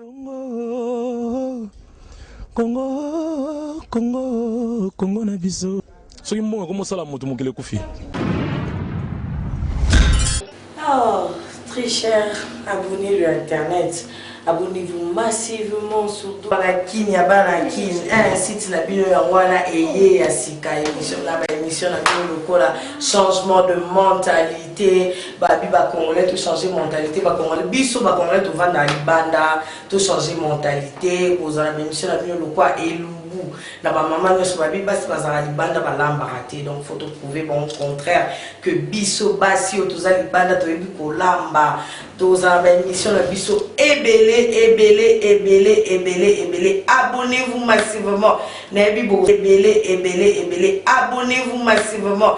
Congo, Congo, Congo, Congo na biso. Soki mbongo ekomi osala moto mokili ekufi. Oh, très cher abonné le internet. Abonnez-vous massivement surtout la kin ya bana kin un site na bino yango wana eye ya sika émission na ba émission na bino lokola changement de mentalité te babi ba congolais to changer mentalite ba congolais biso ba congolais tovanda libanda to changer mentalite kozala ba émission na bino lokwa elu goût na bamama nyonso babi basi bazala libanda balambaka te donc faut toprouve bango contraire que biso basi oyo toza libanda toyebi kolamba tozala baémission na biso ebele ebele ebele ebele ebele abonnez vous massivement nayebi bo ebele ebele ebele abonnez vous massivement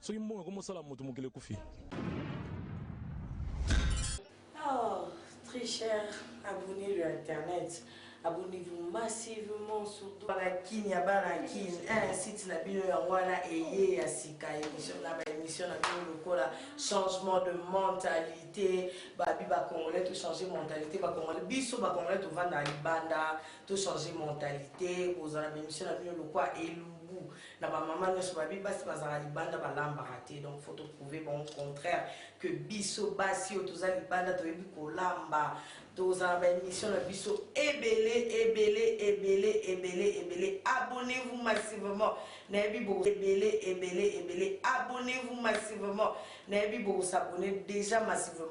Soki mbongo ekomi osala moto mokili ekufi. Oh, très cher abonné le internet. Abonnez-vous massivement sur la kin ya bana kin un site na bino yango wana eye ya sika émission na ba émission na bino lokola changement de mentalité babi ba congolais to changer mentalité ba congolais biso ba congolais tovanda libanda to changer mentalité kozala ba émission na bino lokola elu na ba maman nionso babi basi bazalaka libanda balambaka te donc faut to prouver bango contraire que biso basi oyo toza libanda toyebi kolamba tozala ba émission na biso ebele ebele ebele ebele ebele abonnez vous massivement nayebi bo ebele ebele ebele abonnez vous massivement nayebi boko s'abonner déjà massivement